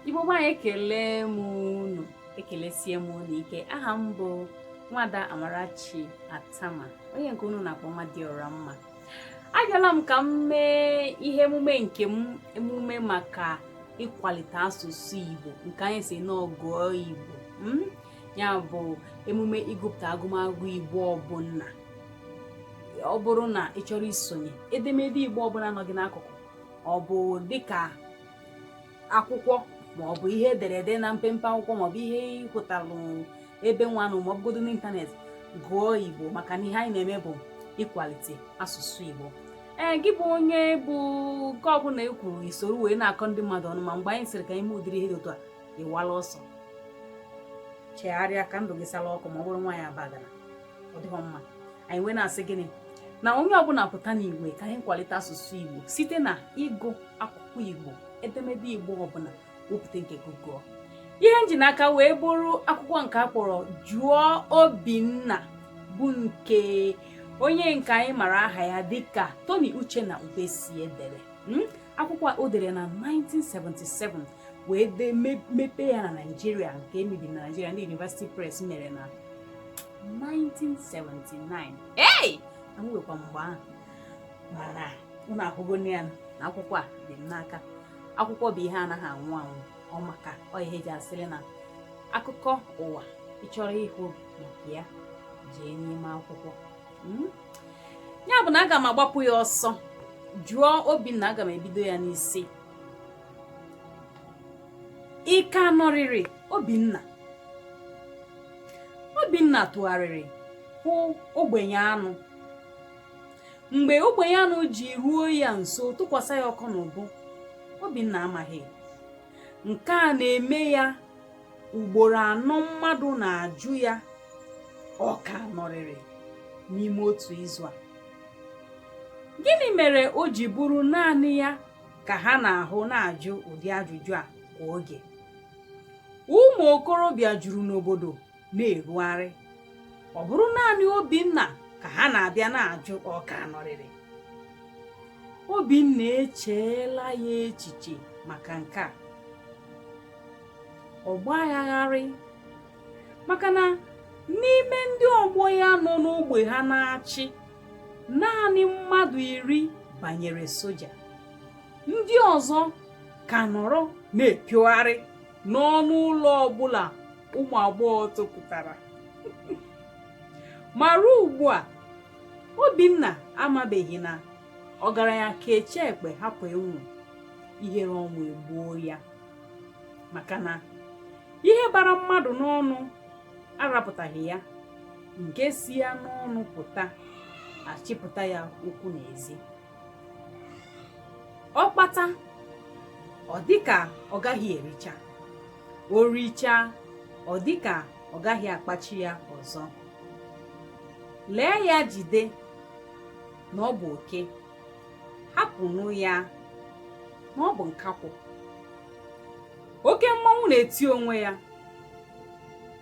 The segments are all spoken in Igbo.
Igbo be anyị ekele m unu ekelesie m unu ike aha m bụ nwada Amarachi Attamah onye nke unu na-akpọ Nwadịọramma abịala m ka m mee ihe emume nke m emume maka ịkwalite asụsụ Igbo nke anyị sị na ọ gụọ Igbo hmm? ya bụ emume ịgụpụta agụmagụ Igbo ọbụla ọ bụrụ na ị chọrọ isonye edemede Igbo ọbụla nọ gị n'akụkụ ọ bụ dịka akwụkwọ ma ọ bụ ihe ederede na mpempe akwụkwọ maọbụ ihe ị hụtalụ ebe nwanụ ma ọ bụgodo n'ịntanetị gụọ igbo maka na ihe anyị na-eme bụ ịkwalite asụsụ igbo ee gị bụ onye bụ nke ọbụla e kwuru i soro wee na-akọ ndị mmadụ ọnụ ma mgbe anyị sịrị ka anyị mee ụdịrị ihe dị otu a ị wala ọsọ chegharịa ka ndụ gị sala ọkụ ma ọ bụrụ nwaanyị abagana ọ dịghọ mma anyị wee na-asị gịnị na onye ọbụla pụta n'igwe ka anyị kwalite asụsụ Igbo site na ịgụ akwụkwọ Igbo edemede Igbo ọbụla wepụta nke gị gụọ ihe m ji n'aka wee bụrụ akwụkwọ nke a kpọrọ jụọ Obinna bụ nke onye nke anyị mara aha ya dịka Tony Uchenna Ubesie dere hmm? akwụkwọ o dere na 1977 wee dee mepee ya na naijiria nke e mebere na naijiria ndị University Press mere na 1979 ei a mụghịkwa m mgbe ahụ mana unu ahụgo ya na akwụkwọ a dị m n'aka akwụkwọ bụ ihe anaghị anwụ anwụ ọ maka ọ ihe e ji asịrị na akụkọ ụwa ị chọrọ ịhụ maka ya jee n'ime akwụkwọ hmm? ya bụ na aga m agbapụ ya ọsọ jụọ Obinna aga m ebido ya n'isi ị ka nọrịrị obinna obinna tụgharịrị hụ ogbenyeanụ mgbe ogbenyeanụ ji ruo ya nso tụkwasị ya aka n'ubu obinna amaghị nke a na-eme ya ugboro anọ mmadụ na-ajụ ya ọ ka nọrịrị n'ime otu izu a gịnị mere o ji bụrụ naanị ya ka ha na-ahụ na-ajụ ụdị ajụjụ a kwa oge ụmụ okorobịa juru n'obodo na-erugharị ọ bụrụ naanị obinna ka ha na-abịa na-ajụ ọ ka nọrịrị obinna echeela ya echiche maka nke a ọ gbaa ya gharịị maka na n'ime ndị ọgbọ ya nọ n'ogbe ha na-achị naanị mmadụ iri banyere soja ndị ọzọ ka nọrọ na-epiogharị n'ọnụ ụlọ ọbụla ụmụ agbọghọ topụtara ma ruo ugbu a obinna amabeghị na ọgaranya kechaa ekpe hapụ ịnwụ ihere ọnwụ egbuo ya maka na ihe bara mmadụ n'ọnụ arapụtaghị ya nke si ya n'ọnụ pụta achịpụta ya ụkwụ n'ezi ọ kpata ọ dịka ọ gaghị ericha o richaa ọ dịka ọ gaghị akpachi ya ọzọ lee ya jide na ọ bụ oke hapụnụ ya na ọ bụ nkakwụ oke mmọnwụ na-eti onwe ya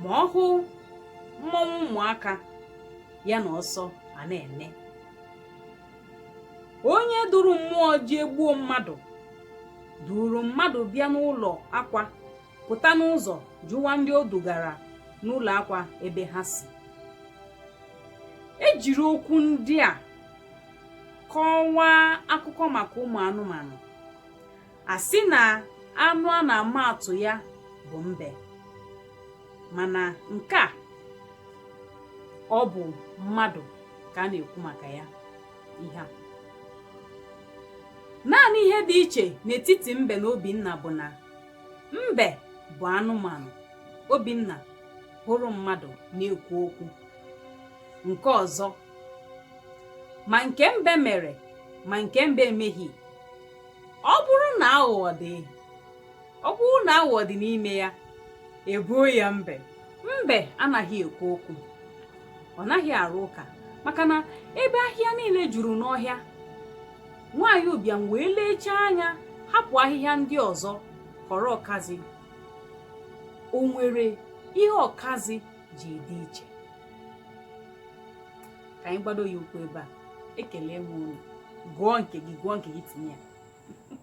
ma ọ hụ mmọnwụ ụmụaka ya na ọsọ a na-eme onye duru mmụọ jee gbuo mmadụ duru mmadụ bịa n'ụlọ akwa pụta n'ụzọ jụwa ndị o dugara n'ụlọ akwa ebe ha si e jiri okwu ndị a kọwaa akụkọ maka ụmụ anụmanụ a sị na anụ a na-ama atụ ya bụ mbe mana nke a ọ bụ mmadụ ka a na-ekwu maka ya ihe a naanị ihe dị iche n'etiti mbe na obinna bụ na mbe bụ anụmanụ obinna abụrụ mmadụ na-ekwu okwu nke ọzọ ma nke mbe mere ma nke mbe emeghị ọ bụrụ na aghụghọ dị ọ bụrụ na aghụghọ dị n'ime ya e boo ya mbe mbe anaghị ekwu okwu ọ naghị arụ ụka maka na ebe ahịhịa niile juru n'ọhịa nwaanyị ụbịam wee lechaa anya hapụ ahịhịa ndị ọzọ họrọ ọkazị o nwere ihe ọkazị ji dị iche ka anyị gbado ya ụkwụ ebe a ekele m unu gụọ nke gị gụọ nke gị tinye ya